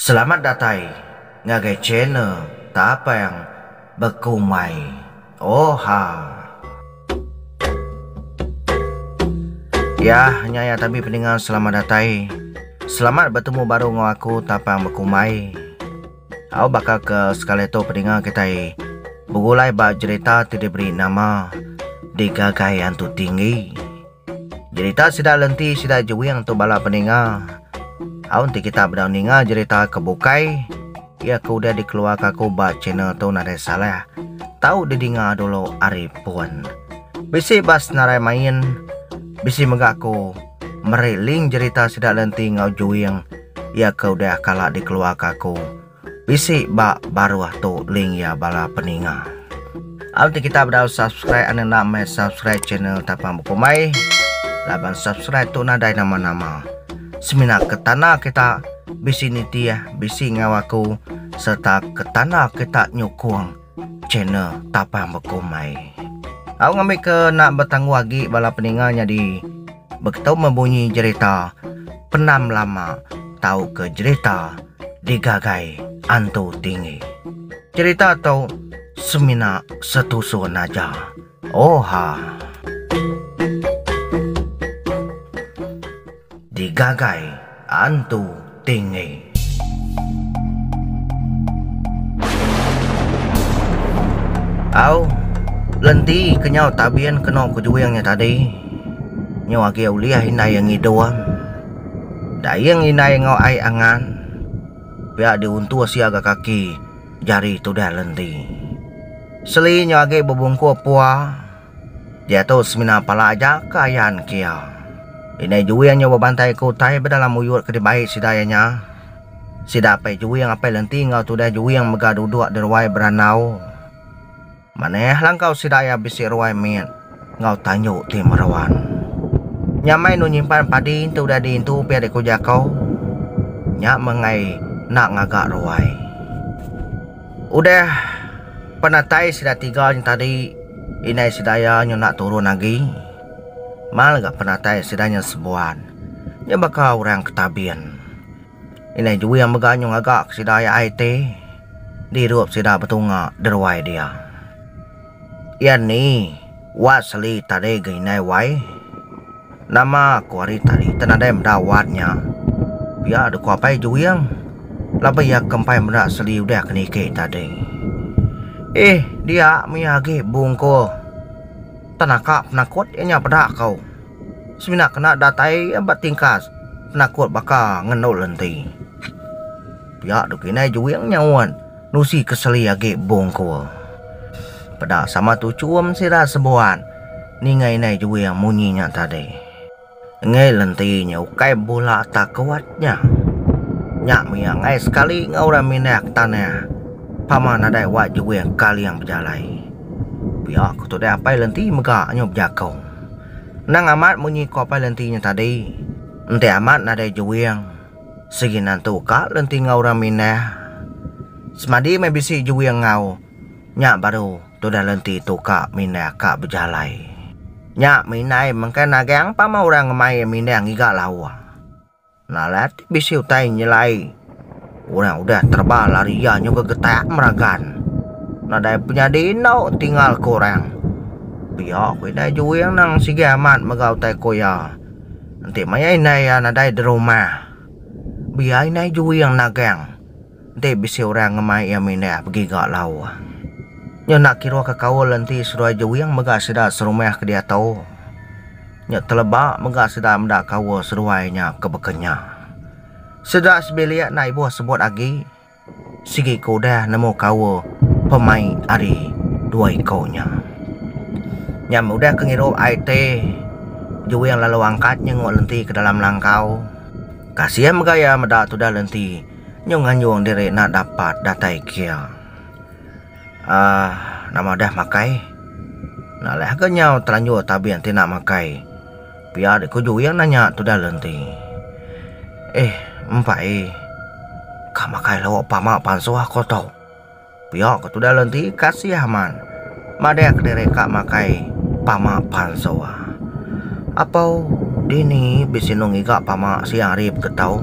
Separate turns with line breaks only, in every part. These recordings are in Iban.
Selamat datai ngagai channel Tapang Bekumai Oha. Yah nya ya tabi peninga selamat datai. Selamat betemu baru enggau aku Tapang Bekumai. Au baka ke sekali tu peninga kitai begulai ba jerita ti diberi nama Digagai Antu Tinggi. Jerita sida lenti sida juing tu bala peninga. Au enti kita bedau ninga jerita ke bukai iya ke udah dikeluarka aku ba channel tu nadai salah. Tau didinga dulu ari pun. Bisi ba senarai main bisi mega aku meri link jerita sida lenti enggau juing iya ke udah kala dikeluarka aku. Bisi ba baruh tu link ya bala peninga. Au ti kita bedau subscribe ane enda meh subscribe channel tapang bekumbai. Laban subscribe tu nadai nama-nama. Semina ke tanda kita bisi nitih, bisi ngau aku serta ke tanda kita nyukung Channel Tapang Bekumbai. Au ngambi ke nak betangguh agi bala peninga nyadi beketu meh bunyi jerita Penam Lama tauka jerita Digagai Antu Tinggi. Jerita tu semina setusun aja. Oha. Digagai antu tinggi. Au, lenti kenyau tabin keno kejuing nya tadi. Nyu agi ulih indai iya ngidung. Daing indai enggau ai angan. Pia diuntus iya ga kaki jari tudah lenti. Seli nyu agi bebungku pua. Diatu semina pala aja ke ayan ke iya. Indai juing nyau bebantai ke utai bedalam muyut ke dibai sida iya nya. Sida apai juing apai lenti enggau tudah juing mega duduk di ruai berandau. Manah langkau sida iya bisi ruai mit enggau tanju ti meruan. Nyamai enu nyimpan padi enti udah diintu pia dikeujaka nya meh enggai enda ngaga ruai. Udah penatai sida tiga nya tadi, indai Sedaya nyunak turun agi. Mal ga penatai sida nya sebuan. Nya baka orang ke tabin. Indai Juing mega nyu ngaga ke sida ai ti, dirup sida betunga deruai dia. Iya ni wak seli tadi ga indai wai. Nama aku hari tadi te nadai meda wak nya. Pia de ku apai Juing laban iya ke empai meda seli udah ke niki tadi. Eh dia mia agi bungkul te naka penakut iya nya peda ko. Semina kena datai iya ba tingkas penakut baka ngendol enti. Pia de ku indai Juing nyaut. Nusi ke seli agi bungkul. Peda sama tu chum sida sebuan ninga indai juing munyi nya tadi. Enggai lenti nya ukai bula takuat nya. Nya mia enggai sekali enggau orang minyak tanah pama nadai wa juing kaling bejalai. Pia ku tu deh apai lenti mega nyu bejakong. Nang amat munyi ku apai lenti nya tadi enti amat nadai juing. Sigi nantu ka lenti enggau orang minah. Semadi meh bisi juing enggau nya baru tudah lenti tu ka minah ka bejalai. Nya minai mengkai nagang pama orang ngemai iya minah ngiga lawa. Nalat ti bisi utai nyelai orang udah terba lari iya nyungka getak meragan. Nadai penyadi endo tinggal ku orang. Pia ku indai juing nang sigi amat mega utai ku iya. Enti maya indai iya nadai di rumah, biar indai juing nagang. Enti bisi orang ngemai iya mindah begiga lau. Nya enda kira ke kaul enti seduai juing mega sida serumah ke diatu. Nya teleba mega sida meda kaul seduai nya ke beka nya. Sida sebilik enda ibuh sebut agi. sigi ke udah nemu kaul pemai ari dua iku nya. Nya meh udah ke ngirup IT juing lalu angkat nyengu lenti ke dalam langkau. Kasih mega iya meda tudah lenti nyu nganjung diri enda dapat datai kia. Aaa nama udah makai. Enda leh ke nyau telanjur tabing ti enda makai. Pia dek kuju iya nanya tudah le enti. Eh empai. Ka makai lauk pama pansuh aku tu. Pia ke tudah le enti kasih amat. Madah kediri ka makai pama pansuh. Apau dini bisi no ngiga pama sia hari beketau.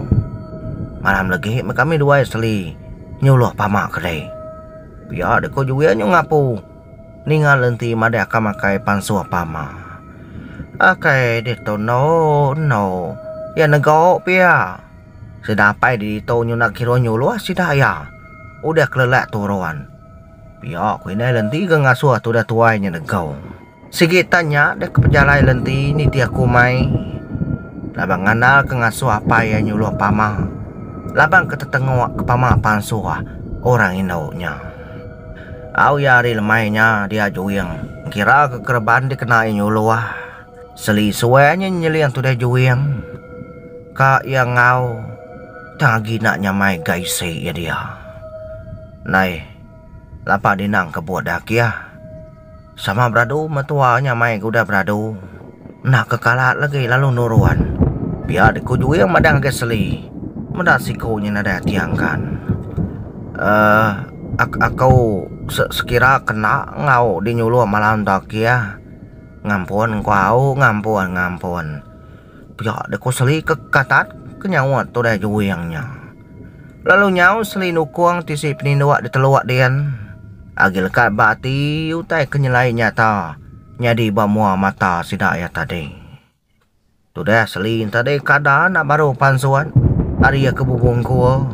Malam legi me kami duai seli nyuluh pama kedai. Pia dek kuju iya nyu ngapu. Ninga lenti madah ka makai pansuh pama. Akai ditu endo endo iya nego pia. Sida apai di ditu nyunak kiruh nyuluh sida iya udah kelelak turun. Pia ku indai lenti ke ngasuh tudah tuai nya nego. Sigi tan nya deh ke pejalai lenti nitih aku mai laban ngandal ke ngasuh apai iya nyuluh pama laban ke tetengok ke pama pansuh orang indu nya. Au iya ari lemai nya dia juing engkira ke kereban dikena iya nyuluh. Seli suai nya nyeling tudah juing ka iya enggau tang agi enda nyamai ga isi iya dia. Nai lapak dinang kebut daki ah. Sama beradu metua nya mai ke udah beradu enda ke kalat legi lalu nurun. Pia diku Juing madang ngagai Seli. Meda siku nya nadai ati angkan. Uh ak aku se sekira kena enggau di nyuloh malam tu akih. Ngampun engku au ngampun ngampun. Pia diku Seli ke katat ke nyaut udah Juing nya. Lalu nyau seli nukung tisi peninduk diteluk din agi lekat ba ati utai ke nyelai nyata nyadi ba mua mata sida iya tadi. Tudah seli nya tadi kada enda baru pansut ari iya ke bubuh engkua.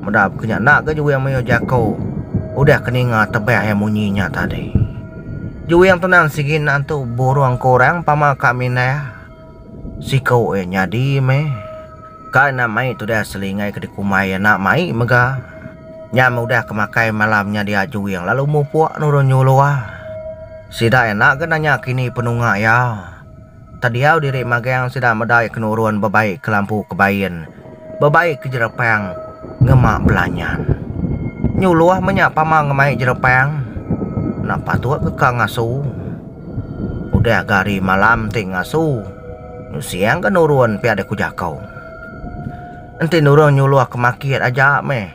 Meda baka nya enda ga juwing mayuh jaku udah ke ninga tebah iya munyi nya tadi. Juwing tu nan sigi enda entu burung ke orang pama ka mindah. Siku iya nyadi meh. Kai enda mai tudah selingai ke dikumbai iya enda mai mega. Nya meh udah ke makai malam nya dia juing lalu mupuk nurun nyuluh. Sida iya enda ke nanya kini penunga iya. Tediau diri magang sida meda iya ke nurun bebai ke lampu kebain. bebai ke jerepang ngema belanyan. Nyuluh menya pama ngemai jerepang enda patut ke ka ngasu. Udah ke hari malam ti ngasu nusing ke nurun pia deh ku jako. Enti nurun nyuluh ke makit aja meh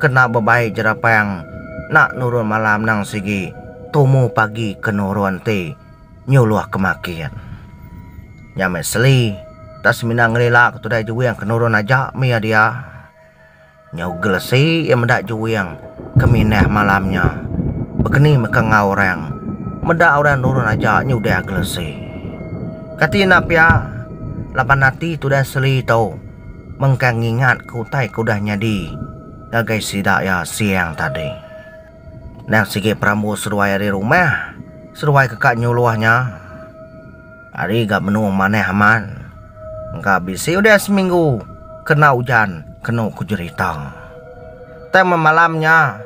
kena bebai jerepang enda nurun malam nang sigi tumu pagi ke nurun ti. nyuluh ke makin. Nya meh seli tah semina ngelila ke tudai juwing ke nurun aja meh iya dia. Nyau gelesi iya meda juwing ke minah malam nya bekeni meh ka enggau orang meda orang nurun aja nyudah gelesi. Kati enda pia laban ati tudai seli tu mengkang ngingat ke utai ke udah nyadi ngagai sida iya siang tadi. Endang sigi perambu seduai ari rumah, seduai keka nyuluh nya ari ga menung manah amat engka bisi udah seminggu kena ujan kenu ku jerita. Tang meh malam nya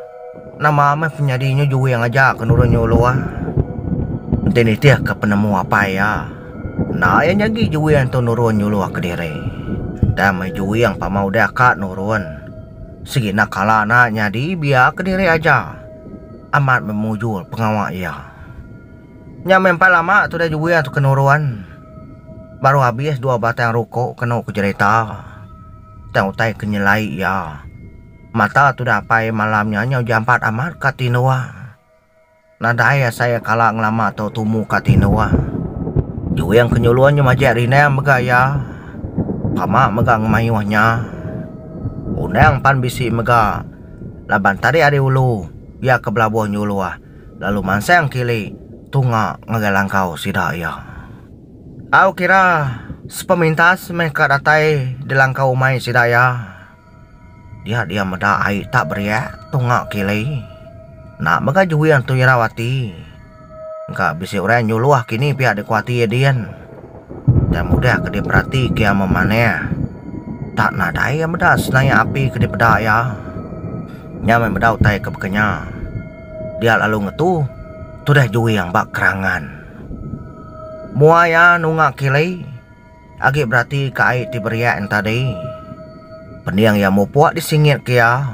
nama meh penyadi nya juing aja ke nulung nyuluh enti nitih ke penemu apai iya enda iya nyadi juing tu nurun nyuluh kediri. Tang meh juing pama udah ka nurun. Sigi enda kala enda nyadi biya kediri aja amat memujur pengawa iya. Nya meh empai lama tudah juwing tu ke nurun. Baru abis dua batang ruko kenu ke jerita tang utai ke nyelai iya. Mata tudah apai malam nya nyau jampat amat ka tindung. Nadai asai iya kala ngelama tu tumu ka tinduk. Juing ke nyulun nya majek rindang mega iya. Tama mega ngemayuh nya. Undang pan bisi mega laban tadik ari ulu iya ke belabuh nyuluh lalu mansang kili tunga ngagai langkau sida iya. Tau kira sepemintas meh ka datai di langkau umai sida iya. Dia dia meda ai tak beriak tunga kili. Enda mega juing tu irau ati. Engka bisi orang nyuluh kini pia dikuati iya din. Utai mudah ke diperati ke iya memanah. Tak nadai iya meda senayak api ke dipeda iya. Nya meh meda utai ke baka nya. Dia lalu ngetu tudah juing ba kerangan. Mua iya nunga kili. Agi berati ka ai ti beriak nya tadi. Pening iya mupuk di singit ke iya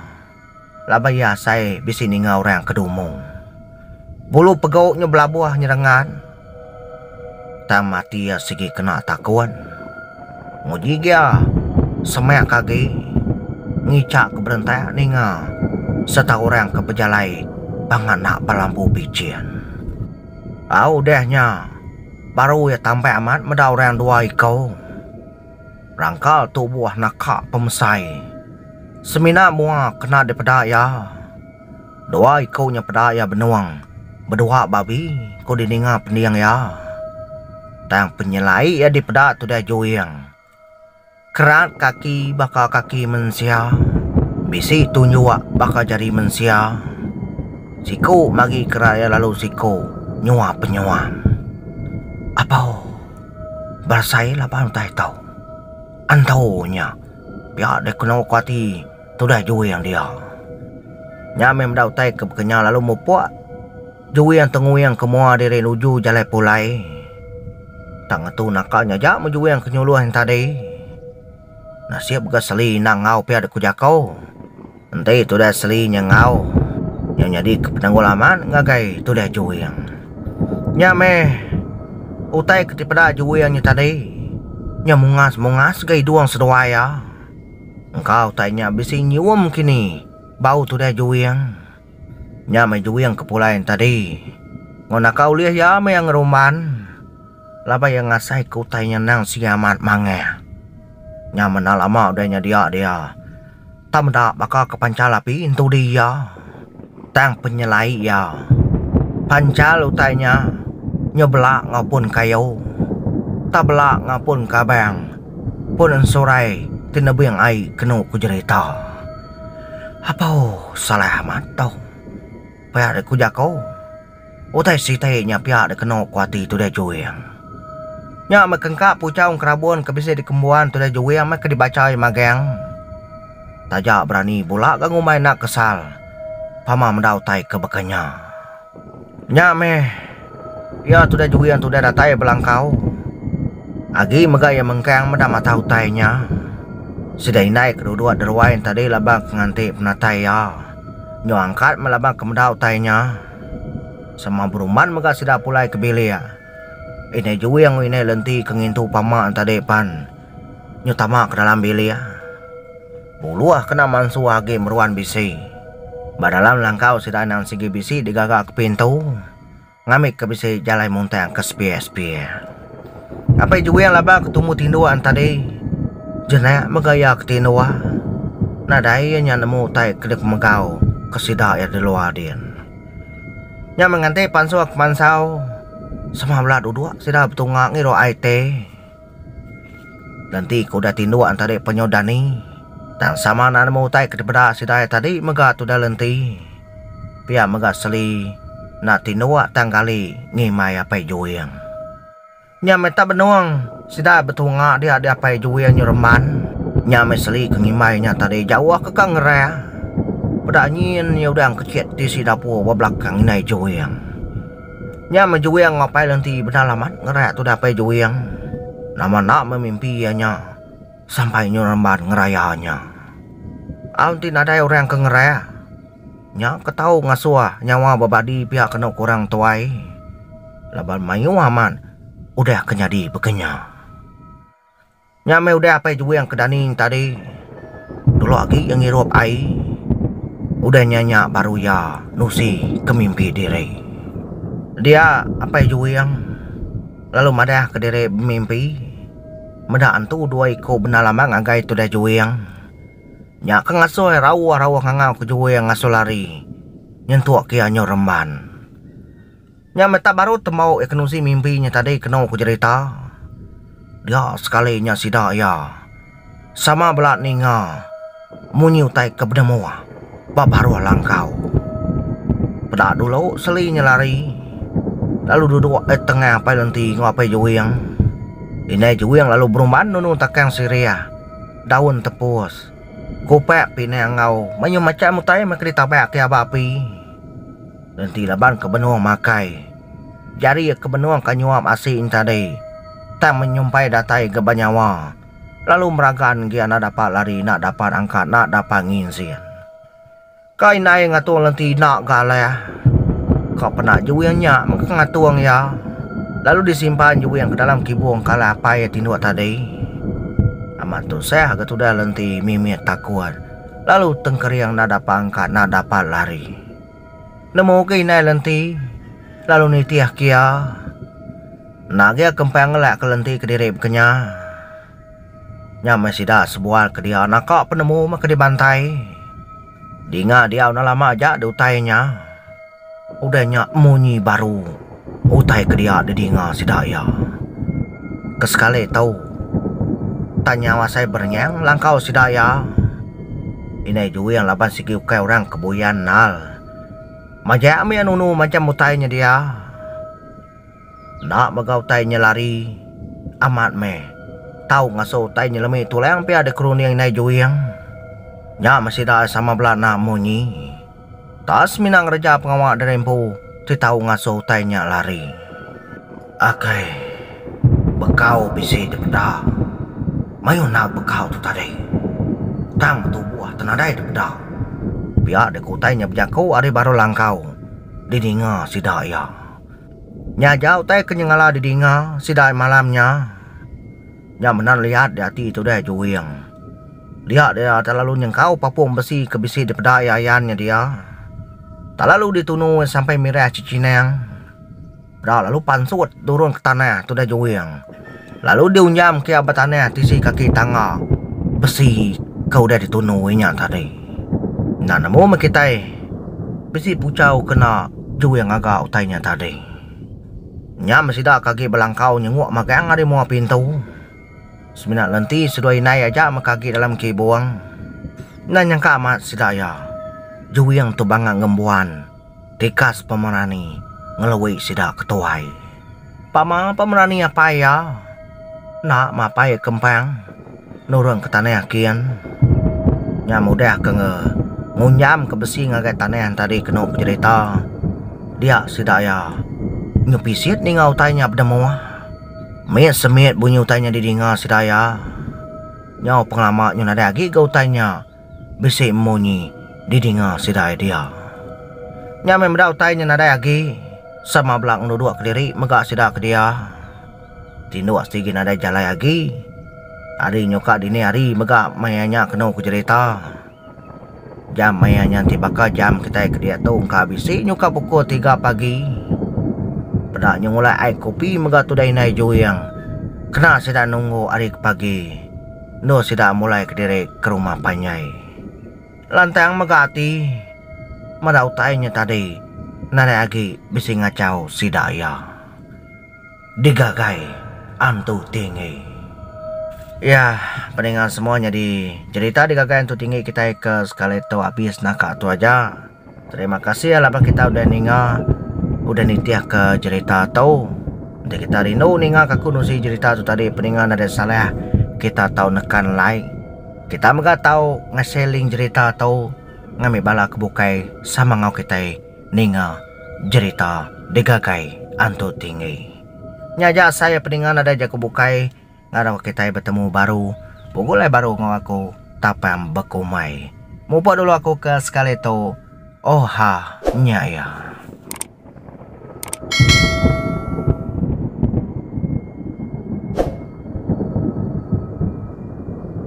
laban iya asai bisi ninga orang ke dumu. Bulu pegu nya belabuh nyerengan tang mati iya sigi kena takun. Nguji ga iya semak ke agi ngicha ke berentak ninga sereta orang ke bejalai ba nganak ba lambu bichin. Au udah nya. Baru iya tambah amat meda orang dua iko. Rangkal tu buah naka pemesai. Semina mua kena dipeda iya. Dua iko nya peda iya benung bedua babi ko dininga pending iya. Tang penyelai iya dipeda tudah juing. Kerat kaki baka kaki mensia, bisi tunjuk baka jari mensia, siku magi kerat iya lalu siku nyua penyuan. Apau berasai laban utai ito. Ento nya pia deh keno ko ati tudah juing dia. Nya meh meda utai ke baka nya lalu mupok. Juing tenguing ke mua diri nuju jalai pulai. Tang ngetu naka nya aja meh juing ke nyuluh enta deh. Nasib mega seli enda enggau pia dek ku jako. Enti tudah seli nya enggau, nya nyadi ke penanggul amat ngagai tudah juing. Nya meh utai ke ti peda juing nya tadi. Nya mungas mungas ga idung seduai iya. Engka utai nya bisi nyium kini bau tudah juing. Nya meh juing ke pulai enti tadi. Enggau naka ulih iya meh iya ngeruman laban iya ngasai ke utai nya endang sigi amat mangeh. Nya meh enda lama udah nya dia dia tang meda baka ke pancal api enti dih iya tang penyelai iya pancal utai nya nyu bela ngapun kayu tang bela ngapun kabang pun ensurai ti nebing ai kenu ku jerita. Apaw salah amat tau. Pia deh ku jako. Utai sitai nya pia deh keno ku ati Tudai Juing. Nya meh ke engka puchau engerabun ke bisi dikembuan Tudai Juing meh ke dibacha iya magang. Taja berani bula ga ngumbai enda kesal pama meda utai ke baka nya. Nya meh, iya tudah juin tudah datai belangkau. Agi mega iya mengkang meda mata utai nya. Sida indai ke duduk deruai enti tadi laban ke nganti penatai iya nyau angkat meh laban ke meda utai nya. Sama beruman mega sida pulai ke bilik. Indai juin enggau indai lenti ke ngintu pama ne tadi pan nyau tama ke dalam bilik. Buluh kena mansuh agi meruan bisi. Ba dalam langkau sida endang sigi bisi digaga ke pintu ngambika bisi jalai muntang ke sepia-sepia. Ngapai juing laban ke tumu tinduk an tadi jenak mega iya ke tinduk. Nadai iya nya nemu utai ke dikemegau ke sida iya di luar din. Nya meh nganti pansuh ke mansau sama bela duduk sida betunga ngirup ai te. Nanti ke udah tinduk entari penyuh dani tang sama enda nemu utai ke dipeda sidai tadi mega tudah lenti pia mega seli enda tinduk tang gali ngimbai apai juing. Nya meh tak benung sida betunga dia di apai juing nyereman nya meh seli ke ngimbai nya tadi jauh ke ka ngerang peda nyin iya udang kecit tisi dapur ba belakang indai juing. Nya meh juing enggau pai lenti bendar laman ngereak tudah pai juing nama enda meh mimpi iya nya sampai nyu remban ngeraya nya. Au enti nadai orang ke ngereak nya ke tau ngasuh nyawa bebadi pia kenu ke orang tuai laban mayuh amat udah ke nyadi baka nya. Nya meh udah Apai Juwing ke Daning tadi. Dulu agi iya ngirup ai. Udah nya nya baru iya nusi ke mimpi diri. Dia Apai Juwing lalu madah ke diri bemimpi meda antu dua iku bendar lama ngagai tudah Juwing. Nya ke ngasuh rauh-rauh ngangau ke Juwing ngasuh lari nyentuk ke iya nyau remban. Nya meh tak baru tembau iya kenusi mimpi nya tadi kenu ku jerita dia sekali nya sida iya sama bela ninga munyi utai ke penemu ba baruh langkau. Peda dulu seli nya lari lalu duduk ai tengah apai lenti enggau apai juing. Indai juing lalu berumban nunu takang sirih, daun tepus, kupak pinang enggau mayuh macham utai meh ke ditabak ke aba api. Enti laban ke benung makai jari ke benung ka nyuap asi entadi tang menyumpai datai ga banyawa lalu meragan gi anak dapa lari nak dapat angkat nak dapa nginzin. Ka indai ngatung lenti enda ga alah ka pena juing nya mega ngatung iya lalu disimpan juing ke dalam kibung ka alah apai iya tinduk tadi. Amat tusah ga tudah lenti mimit takut lalu tengkering enda dapa angkat enda dapat lari. Nemu ke indai lenti lalu nitih ke iya. Enda agi aku empai ngelak ke lenti kediri bekenya. Nya meh sida sebual ke dia naka penemu meh ke dibantai. Dinga diau enda lama aja di utai nya. Udah nya munyi baru. Utai ke dia didinga sida iya ke sekali tu tan nyau asai berenyang langkau sida iya. Indai Juing laban sigi ukai orang ke buyan nal majak mih nunu macham utai nya dia. Enda mega utai nya lari amat meh tau ngasuh utai nya lemi tulang pia dikerunding Indai Juing. Nya meh sida iya sama bela enda munyi. Tang semina ngereja pengawa diri empu ti tau ngasuh utai nya lari. Akai. Bekau bisi dipeda. Mayuh enda bekau tu tadi. Tang betubuh te nadai dipeda. Pia deka utai nya bejaku ari baruh langkau didinga sida iya. Nya aja utai ke nyengala didinga sida malam nya. Nya menan liat di ati tudai juing. Dia dia telalu nyengkau papung besi ke bisi dipeda iya ayan nya dia. Telalu ditunu iya sampai mirah cechinang. Peda lalu pansut turun ke tanah tudai juing lalu diunjamka iya ba tanah tisi kaki tangga besi ke udah ditunu iya nya tadi. Enda nemu meh kitai bisi puchau kena juing ngaga utai nya tadi. Nya men sida ke agi belangkau nyenguk magang ari mua pintu. Semina lenti seduai indai aja mega agi dalam kibung. Enda nyangka amat sida iya. Juing tu bangak ngembuan tikas pemerani ngelui sida ke tuai. Pama pemerani apai iya enda mapai kempang. Nurung ke tanah akin nya mudah ke nge ngunjam ke besi ngagai tanah enti ari kenu pejerita dia sida iya nyu pisit ninga utai nya peda mua mit semit bunyi utai nya didinga sida iya nyau pengelama nyu nadai agi ga utai nya bisi munyi didinga sida iya dia nya meh meda utai nya nadai agi sama bala ngeluduk kediri mega sida ke dia. Tinduk sigi nadai jalai agi. Ari nyuka dini hari mega maya nya kenu ku jerita. Jam maya nya enti baka jam kitai ke diak tu engka bisi nyuka pukul tiga pagi. Peda nyengulai ai kopi mega tudah indai juing kena sida nunggu hari ke pagi endur sida mulai kediri ke rumah panjai. Lantang mega ati meda utai nya tadi nadai agi bisi ngachau sida iya. digagai Antu Tinggi. Iya, peninga semua nyadi cerita digagai Antu Tinggi kitai ke sekali tu abis nah ka tu aja. Terima kasih laban kita udah ninga udah nitihka cerita tu. Enti kita rindu ninga ka aku nusi cerita tu tadi peninga nadai salah kita tau nekan like. Kita mega tau ngasai link cerita tu ngambi bala ke bukai sama enggau kitai. Ninga jerita digagai Antu Tinggi. Nya aja asai iya peninga nadai jaku bukai ngarau kitai betemu baru, begulai baru enggau aku tapang bekumbai. Mupuk dulu aku ke sekali tu. Oha nya iya.